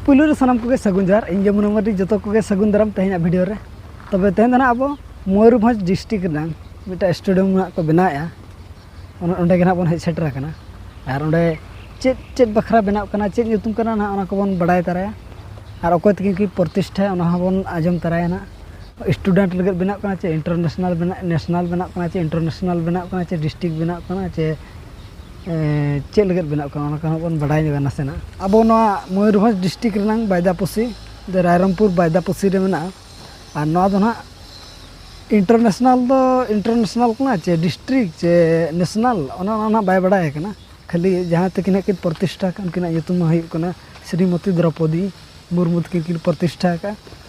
ᱯᱩᱭᱞᱩ ᱨᱮ ᱥᱟᱱᱟᱢ ᱠᱚᱜᱮ ᱥᱟᱹᱜᱩᱱ ᱡᱚᱦᱟᱨ ᱤᱧ ᱜᱮ ᱢᱩᱱᱟ ᱢᱟᱨᱰᱤ ᱡᱚᱛᱚ ᱠᱚᱜᱮ ᱥᱟᱹᱜᱩᱱ ᱫᱟᱨᱟᱢ ᱛᱮᱦᱮᱧᱟᱜ ᱵᱷᱤᱰᱤᱭᱳ ᱨᱮ ᱛᱚᱵᱮ ᱛᱮᱦᱮᱧ ᱫᱚ ᱱᱟᱦᱟᱜ ᱟᱵᱚ ᱢᱚᱭᱩᱨᱵᱷᱚᱸᱡᱽ ᱰᱤᱥᱴᱨᱤᱠ ᱨᱮᱱᱟᱝ ᱢᱤᱫᱴᱟᱝ ᱥᱴᱮᱰᱤᱭᱟᱢ ᱱᱟᱦᱟᱜ ᱠᱚ ᱵᱮᱱᱟᱣᱮᱜᱼᱟ ᱚᱱᱟ ᱚᱸᱰᱮ ᱜᱮ ᱱᱟᱦᱟᱜ ᱵᱚᱱ ᱦᱮᱡ ᱥᱮᱴᱮᱨ ᱟᱠᱟᱱᱟ ᱟᱨ ᱚᱸᱰᱮ ᱪᱮᱫ ᱪᱮᱫ ᱵᱟᱠᱷᱨᱟ ᱵᱮᱱᱟᱜ ᱠᱟᱱᱟ ᱪᱮᱫ ᱧᱩᱛᱩᱢ ᱠᱟᱱᱟ ᱱᱟᱦᱟᱜ ᱚᱱᱟ ᱠᱚᱵᱚᱱ ᱵᱟᱲᱟᱭ ᱛᱟᱨᱟᱭᱟ ᱟᱨ ᱚᱠᱚᱭ ᱛᱟᱹᱠᱤᱱ ᱠᱤᱱ ᱯᱨᱚᱛᱤᱥᱴᱷᱟᱭᱟ ᱚᱱᱟ ᱦᱚᱸᱵᱚᱱ ᱟᱸᱡᱚᱢ ᱛᱟᱨᱟᱭᱟ ᱱᱟᱦᱟᱜ ᱥᱴᱩᱰᱮᱱᱴ ᱞᱟᱹᱜᱤᱫ ᱵᱮᱱᱟᱜ ᱠᱟᱱᱟ ᱪᱮ ᱤᱱᱴᱟᱨᱱᱮᱥᱱᱟᱞ ᱵᱮᱱᱟᱜ ᱱᱮᱥᱱᱟᱞ ᱵᱮᱱᱟᱜ ᱠᱟᱱᱟ ᱪᱮ ᱤᱱᱴᱟᱨᱱᱮᱥᱱᱟᱞ ᱵᱮᱱᱟᱜ ᱠᱟᱱᱟ ᱪᱮ ᱰᱤᱥᱴᱨᱤᱠ ᱵᱮᱱᱟᱜ ᱠᱟᱱᱟ ᱪᱮ ᱪᱮᱫ ᱞᱟᱹᱜᱤᱫ ᱵᱮᱱᱟᱜ ᱠᱟᱱᱟ ᱚᱱᱟ ᱠᱚᱦᱚᱸ ᱵᱚᱱ ᱵᱟᱰᱟᱭ ᱧᱚᱜᱟ ᱱᱟᱥᱮᱱᱟᱜ ᱟᱵᱚ ᱱᱚᱣᱟ ᱢᱚᱭᱩᱨᱵᱷᱚᱸᱡᱽ ᱰᱤᱥᱴᱤᱠ ᱨᱮᱱᱟᱝ ᱵᱟᱭᱫᱟᱯᱚᱥᱤ ᱫᱚ ᱨᱟᱭᱨᱚᱝᱯᱩᱨ ᱵᱟᱭᱫᱟᱯᱚᱥᱤ ᱨᱮ ᱢᱮᱱᱟᱜᱼᱟ ᱟᱨ ᱱᱚᱣᱟ ᱫᱚ ᱱᱟᱦᱟᱜ ᱤᱱᱴᱟᱨᱱᱮᱥᱱᱮᱞ ᱫᱚ ᱤᱱᱴᱟᱨᱱᱮᱥᱱᱮᱞ ᱠᱟᱱᱟ ᱪᱮ ᱰᱤᱥᱴᱨᱤᱠ ᱪᱮ ᱱᱮᱥᱱᱮᱞ ᱚᱱᱮ ᱚᱱᱟ ᱱᱟᱦᱟᱜ ᱵᱟᱭ ᱵᱟᱰᱟᱭ ᱠᱟᱱᱟ ᱠᱷᱟᱹᱞᱤ ᱡᱟᱦᱟᱸ ᱛᱟᱹᱠᱤᱱ ᱦᱟᱸᱜ ᱠᱤᱱ ᱯᱨᱚᱛᱤᱥᱴᱷᱟ ᱟᱠᱟᱫ ᱩᱱᱠᱤᱱᱟᱜ ᱧᱩᱛᱩᱢ ᱢᱟ ᱦᱩᱭᱩᱜ ᱠᱟᱱᱟ ᱥᱨᱤᱢᱚᱛᱤ ᱫᱨᱳᱯᱚᱫᱤ ᱢᱩᱨᱢᱩ ᱛᱟᱹᱠᱤᱱ ᱠᱤᱱ ᱯᱨᱚᱛᱤᱥᱴᱷᱟ ᱟᱠᱟᱫᱼᱟ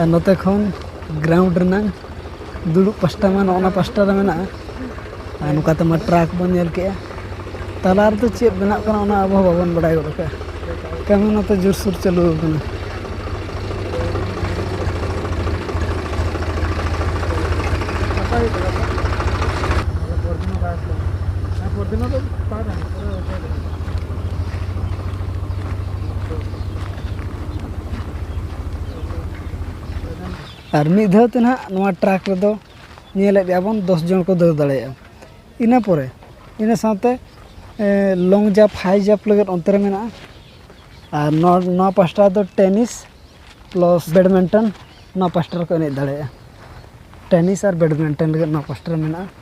ᱟᱨ ᱱᱚᱛᱮ ᱠᱷᱚᱱ ᱜᱨᱟᱣᱩᱱᱰ ᱨᱮᱱᱟᱝ ᱫᱩᱲᱩᱵ ᱯᱟᱥᱴᱟ ᱢᱟ ᱱᱚᱜᱼᱚ ᱱᱟ ᱯᱟᱥᱴᱟ ᱨᱮ ᱢᱮᱱᱟᱜᱼᱟ ᱟᱨ ᱱᱚᱝᱠᱟ ᱛᱮᱢᱟ ᱴᱨᱟᱠ ᱵᱚᱱ ᱧᱮᱞ ᱠᱮᱜᱼᱟ ᱛᱟᱞᱟ ᱨᱮᱫᱚ ᱪᱮᱫ ᱵᱮᱱᱟᱜ ᱠᱟᱱᱟ ᱚᱱᱟ ᱟᱵᱚ ᱦᱚᱸ ᱵᱟᱵᱚᱱ ᱵᱟᱲᱟᱭ ᱜᱚᱫ ᱠᱟᱜᱼᱟ ᱠᱟᱹᱢᱤ ᱱᱚᱛᱮ ᱡᱳᱨᱥᱳᱨ ᱪᱟᱹᱞᱩ ᱟᱠᱟᱱᱟ ᱟᱨ ᱢᱤᱫ ᱫᱷᱟᱣ ᱛᱮ ᱱᱟᱦᱟᱜ ᱱᱚᱣᱟ ᱴᱨᱟᱠ ᱨᱮᱫᱚ ᱧᱮᱞᱮᱫ ᱜᱮᱭᱟ ᱵᱚᱱ ᱫᱚᱥ ᱡᱚᱱ ᱠᱚ ᱫᱮᱡ ᱫᱟᱲᱮᱭᱟᱜᱼᱟ ᱤᱱᱟᱹ ᱯᱚᱨᱮ ᱤᱱᱟᱹ ᱥᱟᱶᱛᱮ ᱞᱚᱝ ᱡᱟᱢᱯ ᱦᱟᱭ ᱡᱟᱢᱯ ᱞᱟᱹᱜᱤᱫ ᱚᱱᱛᱮ ᱨᱮ ᱢᱮᱱᱟᱜᱼᱟ ᱟᱨ ᱱᱚᱣᱟ ᱱᱚᱣᱟ ᱯᱟᱥᱴᱟ ᱫᱚ ᱴᱮᱱᱤᱥ ᱯᱞᱟᱥ ᱵᱮᱰᱢᱤᱱᱴᱚᱱ ᱱᱚᱣᱟ ᱯᱟᱥᱴᱟ ᱨᱮᱠᱚ ᱮᱱᱮᱡ ᱫᱟᱲᱮᱭᱟᱜᱼᱟ ᱴᱮᱱᱤᱥ ᱟᱨ ᱵᱮᱰᱢᱤᱱᱴᱚᱱ ᱞᱟᱹᱜᱤᱫ ᱱᱚᱣᱟ ᱯᱟᱥᱴᱟ ᱨᱮ ᱢᱮᱱᱟᱜᱼᱟ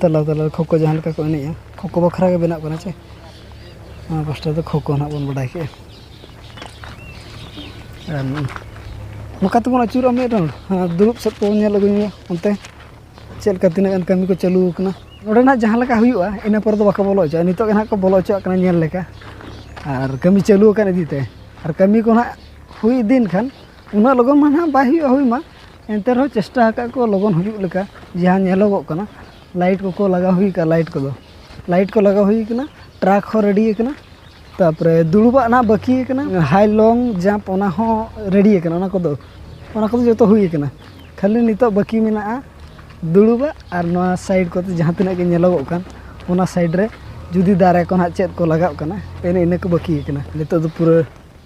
ᱛᱟᱞᱟ ᱛᱟᱞᱟ ᱨᱮ ᱠᱷᱳᱠᱳ ᱡᱟᱦᱟᱸ ᱞᱮᱠᱟ ᱠᱚ ᱮᱱᱮᱡᱼᱟ ᱠᱷᱳᱠᱳ ᱵᱟᱠᱷᱨᱟ ᱜᱮ ᱵᱮᱱᱟᱜ ᱠᱟᱱᱟ ᱪᱮ ᱱᱚᱣᱟ ᱯᱟᱥᱴᱟ ᱫᱚ ᱠᱷᱳᱠᱳ ᱦᱟᱸᱜ ᱵᱚᱱ ᱵᱟᱰᱟᱭ ᱠᱮᱜᱼᱟ ᱟᱨ ᱱᱚᱝᱠᱟ ᱛᱮᱵᱚᱱ ᱟᱹᱪᱩᱨᱚᱜᱼᱟ ᱢᱤᱫ ᱨᱟᱣᱩᱱᱰ ᱟᱨ ᱫᱩᱲᱩᱵ ᱥᱮᱫ ᱠᱚᱵᱚᱱ ᱧᱮᱞ ᱟᱹᱜᱩ ᱧᱚᱜᱟ ᱚᱱᱛᱮ ᱪᱮᱫ ᱞᱮᱠᱟ ᱛᱤᱱᱟᱹᱜ ᱜᱟᱱ ᱠᱟᱹᱢᱤ ᱠᱚ ᱪᱟᱹᱞᱩ ᱟᱠᱟᱱᱟ ᱱᱚᱰᱮ ᱱᱟᱜ ᱡᱟᱦᱟᱸ ᱞᱮᱠᱟ ᱦᱩᱭᱩᱜᱼᱟ ᱤᱱᱟᱹ ᱯᱚᱨᱮ ᱫᱚ ᱵᱟᱠᱚ ᱵᱚᱞᱚ ᱦᱚᱪᱚᱣᱟᱜᱼᱟ ᱱᱤᱛᱚᱜ ᱜᱮ ᱱᱟᱜ ᱠᱚ ᱵᱚᱞᱚ ᱦᱚᱪᱚᱣᱟᱜ ᱠᱟᱱᱟ ᱧᱮᱞ ᱞᱮᱠᱟ ᱟᱨ ᱠᱟᱹᱢᱤ ᱪᱟᱹᱞᱩ ᱟᱠᱟᱱ ᱤᱫᱤᱛᱮ ᱟᱨ ᱠᱟᱹᱢᱤ ᱠᱚ ᱱᱟᱜ ᱦᱩᱭ ᱤᱫᱤᱭᱮᱱ ᱠᱷᱟᱱ ᱩᱱᱟᱹᱜ ᱞᱚᱜᱚᱱ ᱢᱟ ᱱᱟᱜ ᱵᱟᱭ ᱦᱩᱭᱩᱜᱼᱟ ᱦᱩᱭ ᱢᱟ ᱮᱱᱛᱮ ᱨᱮᱦᱚᱸ ᱪᱮᱥᱴᱟ ᱟᱠᱟᱫ ᱠᱚ ᱞᱚᱜᱚᱱ ᱦᱩᱭᱩᱜ ᱞᱮᱠᱟ ᱡᱟᱦᱟᱸ ᱧᱮᱞᱚᱜᱚᱜ ᱠᱟᱱᱟ ᱞᱟᱭᱤᱴ ᱠᱚᱠᱚ ᱞᱟᱜᱟᱣ ᱦᱩᱭ ᱠᱟᱜᱼᱟ ᱞᱟᱭᱤᱴ ᱠᱚᱫᱚ ᱞᱟᱭᱤᱴ ᱠᱚ ᱞᱟᱜᱟᱣ ᱦᱩᱭ ᱠᱟᱱᱟ ᱴᱨᱟᱠ ᱦᱚᱸ ᱨᱮᱰᱤ ᱟᱠᱟᱱᱟ ᱛᱟᱨᱯᱚᱨᱮ ᱫᱩᱲᱩᱵᱟᱜ ᱱᱟᱦᱟᱜ ᱵᱟᱹᱠᱤ ᱟᱠᱟᱱᱟ ᱦᱟᱭ ᱞᱚᱝ ᱡᱟᱢᱯ ᱚᱱᱟ ᱦᱚᱸ ᱨᱮᱰᱤ ᱟᱠᱟᱱᱟ ᱚᱱᱟ ᱠᱚᱫᱚ ᱚᱱᱟ ᱠᱚᱫᱚ ᱡᱚᱛᱚ ᱦᱩᱭ ᱟᱠᱟᱱᱟ ᱠᱷᱟᱹᱞᱤ ᱱᱤᱛᱚᱜ ᱵᱟᱹᱠᱤ ᱢᱮᱱᱟᱜᱼᱟ ᱫᱩᱲᱩᱵᱟᱜ ᱟᱨ ᱱᱚᱣᱟ ᱥᱟᱭᱤᱰ ᱠᱚᱛᱮ ᱡᱟᱦᱟᱸ ᱛᱤᱱᱟᱹᱜ ᱜᱮ ᱧᱮᱞᱚᱜᱚᱜ ᱠᱟᱱ ᱚᱱᱟ ᱥᱟᱭᱤᱰ ᱨᱮ ᱡᱩᱫᱤ ᱫᱟᱨᱮ ᱠᱚ ᱱᱟᱦᱟᱜ ᱪᱮᱫ ᱠᱚ ᱞᱟᱜᱟᱜ ᱠᱟᱱᱟ ᱮᱱᱮ ᱤᱱᱟᱹ ᱠᱚ ᱵᱟᱹᱠᱤ ᱟᱠᱟᱱᱟ ᱱᱤᱛᱚᱜ ᱫᱚ ᱯᱩᱨᱟᱹ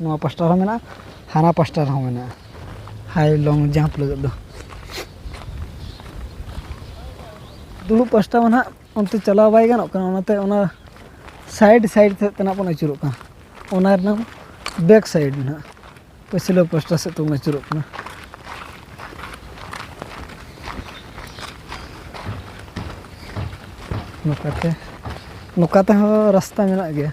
ᱱᱚᱣᱟ ᱯᱟᱥᱴᱟ ᱨᱮᱦᱚᱸ ᱢᱮᱱᱟᱜᱼᱟ ᱦᱟᱱᱟ ᱯᱟᱥᱴᱟ ᱨᱮᱦᱚᱸ ᱢᱮᱱᱟᱜᱼᱟ ᱦᱟᱭ ᱞᱚᱝ ᱡᱟᱢᱯ ᱞᱟᱹᱜᱤᱫ ᱫᱚ ᱫᱩᱲᱩᱵ ᱯᱟᱥᱴᱟ ᱢᱟ ᱱᱟᱦᱟᱜ ᱚᱱᱛᱮ ᱪᱟᱞᱟᱣ ᱵᱟᱭ ᱜᱟᱱᱚᱜ ᱠᱟᱱᱟ ᱚᱱᱟᱛᱮ ᱚᱱᱟ ᱥᱟᱭᱤᱰ ᱥᱟᱭᱤᱰ ᱥᱮᱫ ᱛᱮ ᱱᱟᱦᱟᱜ ᱵᱚᱱ ᱟᱹᱪᱩᱨᱚᱜ ᱠᱟᱱᱟ ᱚᱱᱟ ᱨᱮᱱᱟᱜ ᱵᱮᱠ ᱥᱟᱭᱤᱰ ᱱᱟᱦᱟᱜ ᱯᱟᱹᱪᱷᱞᱟᱹ ᱯᱟᱥᱴᱟ ᱥᱮᱫ ᱛᱮᱵᱚᱱ ᱟᱹᱪᱩᱨᱚᱜ ᱠᱟᱱᱟ ᱱᱚᱝᱠᱟᱛᱮ ᱱᱚᱝᱠᱟ ᱛᱮᱦᱚᱸ ᱨᱟᱥᱛᱟ ᱢᱮᱱᱟᱜ ᱜᱮᱭᱟ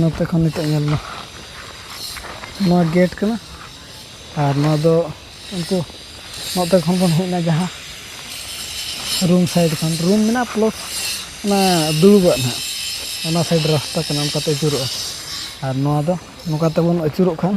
ᱱᱚᱛᱮ ᱠᱷᱚᱱ ᱱᱤᱛᱚᱜ ᱧᱮᱞ ᱢᱟ ᱱᱚᱣᱟ ᱜᱮᱴ ᱠᱟᱱᱟ ᱟᱨ ᱱᱚᱣᱟ ᱫᱚ ᱩᱱᱠᱩ ᱱᱚᱛᱮ ᱠᱷᱚᱱ ᱵᱚᱱ ᱦᱮᱡ ᱮᱱᱟ ᱡᱟᱦᱟᱸ ᱨᱩᱢ ᱥᱟᱭᱤᱰ ᱠᱷᱚᱱ ᱨᱩᱢ ᱢᱮᱱᱟᱜᱼᱟ ᱯᱞᱚᱴ ᱚᱱᱟ ᱫᱩᱲᱩᱵᱟᱜ ᱱᱟᱦᱟᱜ ᱚᱱᱟ ᱥᱟᱭᱤᱰ ᱨᱟᱥᱛᱟ ᱠᱟᱱᱟ ᱚᱱᱠᱟᱛᱮ ᱟᱹᱪᱩᱨᱚᱜᱼᱟ ᱟᱨ ᱱᱚᱣᱟ ᱫᱚ ᱱᱚᱝᱠᱟ ᱛᱮᱵᱚᱱ ᱟᱹᱪᱩᱨᱚᱜ ᱠᱷᱟᱱ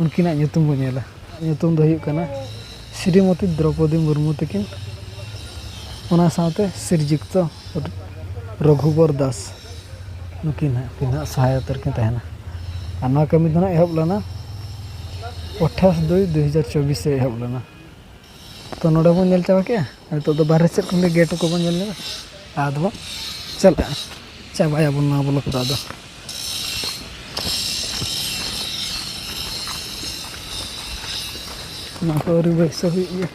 ᱩᱱᱠᱤᱱᱟᱜ ᱧᱩᱛᱩᱢ ᱵᱚᱱ ᱧᱮᱞᱟ ᱧᱩᱛᱩᱢ ᱫᱚ ᱦᱩᱭᱩᱜ ᱠᱟᱱᱟ ᱥᱨᱤᱢᱚᱛᱤ ᱫᱨᱳᱯᱚᱫᱤ ᱢᱩᱨᱢᱩ ᱛᱟᱹᱠᱤᱱ ᱚᱱᱟ ᱥᱟᱶᱛᱮ ᱥᱨᱤᱡᱩᱠᱛᱚ ᱨᱚᱜᱷᱩᱵᱚᱨ ᱫᱟᱥ ᱱᱩᱠᱤᱱ ᱦᱟᱸᱜ ᱩᱱᱠᱤᱱ ᱦᱟᱸᱜ ᱥᱚᱦᱟᱭᱚᱛ ᱨᱮᱠᱤᱱ ᱛᱟᱦᱮᱱᱟ ᱟᱨ ᱱᱚᱣᱟ ᱠᱟᱹᱢᱤ ᱫᱚ ᱦᱟᱸᱜ ᱮᱦᱚᱵ ᱞᱮᱱᱟ ᱟᱴᱷᱟᱥ ᱫᱩᱭ ᱫᱩ ᱦᱟᱡᱟᱨ ᱪᱚᱵᱵᱤᱥ ᱨᱮ ᱮᱦᱚᱵ ᱞᱮᱱᱟ ᱛᱚ ᱱᱚᱰᱮ ᱵᱚᱱ ᱧᱮᱞ ᱪᱟᱵᱟ ᱠᱮᱜᱼᱟ ᱱᱤᱛᱚᱜ ᱫᱚ ᱵᱟᱦᱨᱮ ᱥᱮᱫ ᱠᱷᱚᱱ ᱜᱮ ᱜᱮᱴ ᱠᱚᱵᱚᱱ ᱧᱮᱞ ᱧᱚᱜᱟ ᱟᱫᱚ ᱵᱚᱱ ᱪᱟᱞᱟᱜᱼᱟ ᱪᱟᱵᱟᱭᱟᱵᱚᱱ ᱱᱚᱣᱟ ᱵᱞᱚᱠ ᱫᱚ ᱟᱫᱚ ᱱᱚᱣᱟ ᱠᱚ ᱟᱹᱣᱨᱤ ᱵᱟᱹᱭᱥᱟᱹᱣ ᱦᱩᱭᱩᱜ ᱜᱮᱭᱟ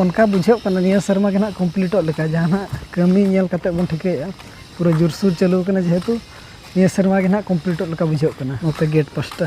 ᱚᱱᱠᱟ ᱵᱩᱡᱷᱟᱹᱜ ᱠᱟᱱᱟ ᱱᱤᱭᱟᱹ ᱥᱮᱨᱢᱟ ᱜᱮ ᱱᱟᱦᱟᱜ ᱠᱚᱢᱯᱞᱤᱴᱚᱜ ᱞᱮᱠᱟ ᱡᱟᱦᱟᱱᱟᱜ ᱠᱟᱹᱢᱤ ᱧᱮᱞ ᱠᱟᱛᱮᱫ ᱵᱚᱱ ᱴᱷᱤᱠᱟᱹᱭᱮᱫᱼᱟ ᱯᱩᱨᱟᱹ ᱡᱳᱨᱥᱳᱨ ᱪᱟᱹᱞᱩ ᱠᱟᱱᱟ ᱡᱮᱦᱮᱛᱩ ᱱᱤᱭᱟᱹ ᱥᱮᱨᱢᱟ ᱜᱮ ᱱᱟᱦᱟᱜ ᱠᱚᱢᱯᱞᱤᱴᱚᱜ ᱞᱮᱠᱟ ᱵᱩᱡᱷᱟᱹᱜ ᱠᱟᱱᱟ ᱱᱚᱛᱮ ᱜᱮᱴ ᱯᱟᱥᱴᱟ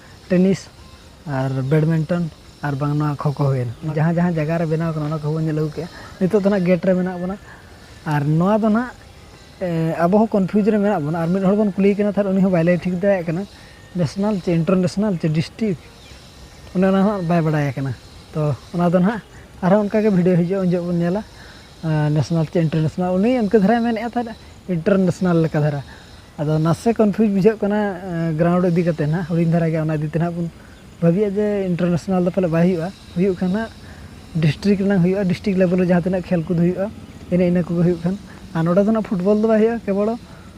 ᱴᱮᱱᱤᱥ ᱟᱨ ᱵᱮᱰᱢᱤᱱᱴᱚᱱ ᱟᱨ ᱵᱟᱝ ᱱᱚᱣᱟ ᱠᱷᱳ ᱠᱷᱳ ᱦᱩᱭᱮᱱ ᱡᱟᱦᱟᱸ ᱡᱟᱦᱟᱸ ᱡᱟᱭᱜᱟ ᱨᱮ ᱵᱮᱱᱟᱣ ᱠᱟᱱᱟ ᱚᱱᱟ ᱠᱚᱦᱚᱸ ᱵᱚᱱ ᱧᱮᱞ ᱟᱹᱜᱩ ᱠᱮᱜᱼᱟ ᱱᱤᱛᱚᱜ ᱫᱚ ᱦᱟᱸᱜ ᱜᱮᱴ ᱨᱮ ᱢᱮᱱᱟᱜ ᱵᱚᱱᱟ ᱟᱨ ᱱᱚᱣᱟ ᱫᱚ ᱦᱟᱸᱜ ᱟᱵᱚ ᱦᱚᱸ ᱠᱚᱱᱯᱷᱤᱭᱩᱡᱽ ᱨᱮ ᱢᱮᱱᱟᱜ ᱵᱚᱱᱟ ᱟᱨ ᱢᱤᱫ ᱦᱚᱲ ᱵᱚᱱ ᱠᱩᱞᱤᱭᱮ ᱠᱟᱱᱟ ᱛᱟᱦᱚᱞᱮ ᱩᱱᱤ ᱦᱚᱸ ᱵᱟᱭ ᱞᱟᱹᱭ ᱴᱷᱤᱠ ᱫᱟᱲᱮᱭᱟᱜ ᱠᱟᱱᱟ ᱱᱮᱥᱱᱮᱞ ᱪᱮ ᱤᱱᱴᱟᱨᱱᱮᱥᱱᱮᱞ ᱪᱮ ᱰᱤᱥᱴᱤᱠ ᱚᱱᱮ ᱚᱱᱟ ᱦᱚᱸ ᱵᱟᱭ ᱵᱟᱲᱟᱭ ᱠᱟᱱᱟ ᱛᱚ ᱚᱱᱟ ᱫᱚ ᱦᱟᱸᱜ ᱟᱨᱦᱚᱸ ᱚᱱᱠᱟᱜᱮ ᱵᱷᱤᱰᱭᱳ ᱦᱤᱡᱩᱜᱼᱟ ᱩᱱ ᱡᱚᱦᱚᱜ ᱵᱚᱱ ᱧᱮᱞᱟ ᱱᱮᱥᱱᱮᱞ ᱪᱮ ᱤᱱᱴᱟᱨᱱᱮᱥᱱᱮᱞ ᱩᱱᱤ ᱤᱱᱠᱟᱹ ᱫᱷᱟᱨᱟᱭ ᱢᱮᱱᱮᱫ ᱛᱟᱦᱮᱸᱫ ᱤᱱᱴᱟᱨᱱᱮᱥᱱᱮᱞ ᱞᱮᱠᱟ ᱫᱷᱟᱨᱟ ᱟᱫᱚ ᱱᱟᱥᱮ ᱠᱚᱱᱯᱷᱤᱭᱩᱡᱽ ᱵᱩᱡᱷᱟᱹᱜ ᱠᱟᱱᱟ ᱜᱨᱟᱣᱩᱱᱰ ᱤᱫᱤ ᱠᱟᱛᱮᱫ ᱦᱟᱸᱜ ᱦᱩᱰᱤᱧ ᱫᱷᱟᱨᱟ ᱜᱮᱭᱟ ᱚᱱᱟ ᱤᱫᱤ ᱛᱮ ᱦᱟᱸᱜ ᱵᱚᱱ ᱵᱷᱟᱹᱵᱤᱭᱟ ᱡᱮ ᱤᱱᱴᱟᱨᱱᱮᱥᱱᱮᱞ ᱫᱚ ᱯᱟᱞᱮᱫ ᱵᱟᱭ ᱦᱩᱭᱩᱜᱼᱟ ᱦᱩᱭᱩᱜ ᱠᱷᱟᱱ ᱦᱟᱸᱜ ᱰᱤᱥᱴᱨᱤᱠ ᱨᱮᱱᱟᱜ ᱦᱩᱭᱩᱜᱼᱟ ᱰᱤᱥᱴᱨᱤᱠ ᱞᱮᱵᱮᱞ ᱨᱮ ᱡᱟᱦᱟᱸ ᱛᱤᱱᱟᱹᱜ ᱠᱷᱮᱞ ᱠᱚᱫᱚ ᱦᱩᱭᱩᱜᱼᱟ ᱮᱱᱮ ᱤᱱᱟᱹ ᱠᱚᱜᱮ ᱦᱩᱭᱩᱜ ᱠᱷᱟᱱ ᱟᱨ ᱱᱚᱰᱮ ᱫᱚ ᱦᱟᱸᱜ ᱯᱷᱩᱴᱵᱚᱞ ᱫᱚ ᱵᱟᱭ ᱦᱩᱭᱩᱜᱼᱟ ᱠᱮᱵᱚᱞ